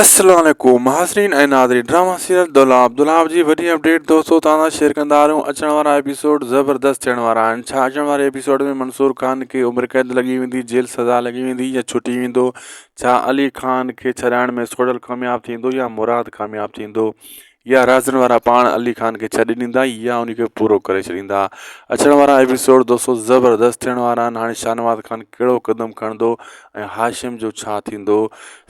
السلام عليڪم ناظرين ۽ ناظرين ڊراما سيريل دولاب دولاب جي وڏي اپڊيٽ دوستو توهان سان شيئر ڪندا آ رهيون اچڻ وارا ايپيسوڊ زبردست ٿيڻ وارا آهن ڇا اچڻ واري ايپيسوڊ ۾ منصور خان کي عمر قيد لڳي ويندي جيل سزا لڳي ويندي يا ڇٽي ويندو ڇا علي خان کي ڇڏائڻ ۾ سوڍل ڪامياب ٿيندو يا مراد ڪامياب ٿيندو يا رازن وارا پاڻ علي خان کي ڇڏي ڏيندا يا ان کي پورو ڪري ڇڏيندا اچڻ وارا ايپيسوڊ دوستو زبردست ٿيڻ وارا آهن هاڻي شاهنواز خان ڪهڙو قدم کڻندو ۽ هاشم جو ڇا ٿيندو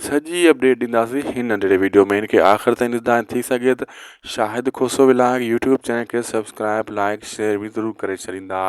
سڄي اپڊيٽ ڏينداسين هن ننڍڙي ويڊيو ۾ هن کي آخر تائين ڏسندا ۽ ٿي سگهي ته Shahid Khoso vlog YouTube channel کي سبسڪرائب لائيڪ شيئر به ضرور ڪري ڇڏيندا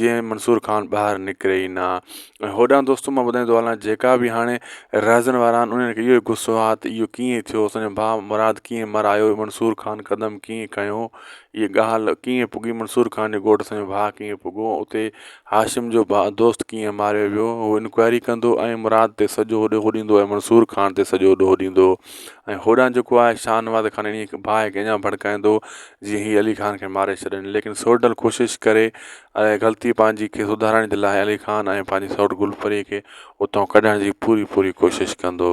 جيئن منصور خان ٻاهر نڪري ئي نه ۽ هوڏانهن دوستو مان ٻڌائيندو هلان جيڪا بي هاڻي رهزن وارا آهن انهن کي اهو غصو آهي ته اهو ڪيئن ٿيو اسان جو ڀاء مراد ڪيئن مرايو منصور خان قدم ڪيئن کنيو ائين ڳالهه ڪيئن پڳي منصور خان جو ڳوٺ اسان جو ڀاء ڪيئن پڳو اتي هاشم جو ڀاء دوست ڪيئن ماريو ويو هو انڪوائري ڪندو ۽ مراد تي سڄو هوڏي هو ڏيندو ۽ منصور خان تي سڄو ڏوهه ڏيندو ۽ هوڏانهن جيڪو آهي شاهنواز خان انهيء کي ڀاء کي اڃان ڀڙڪائيندو جي هي علي خان کي ماري ڇڏين ليڪن سورٺ ڊل ڪوشش ڪري ۽ غلطي پنهنجي کي سڌارڻ جي لاء علي خان ۽ پنهنجي سورٺ گل پري کي اتان ڪڍڻ جي پوري پوري ڪوشش ڪندو.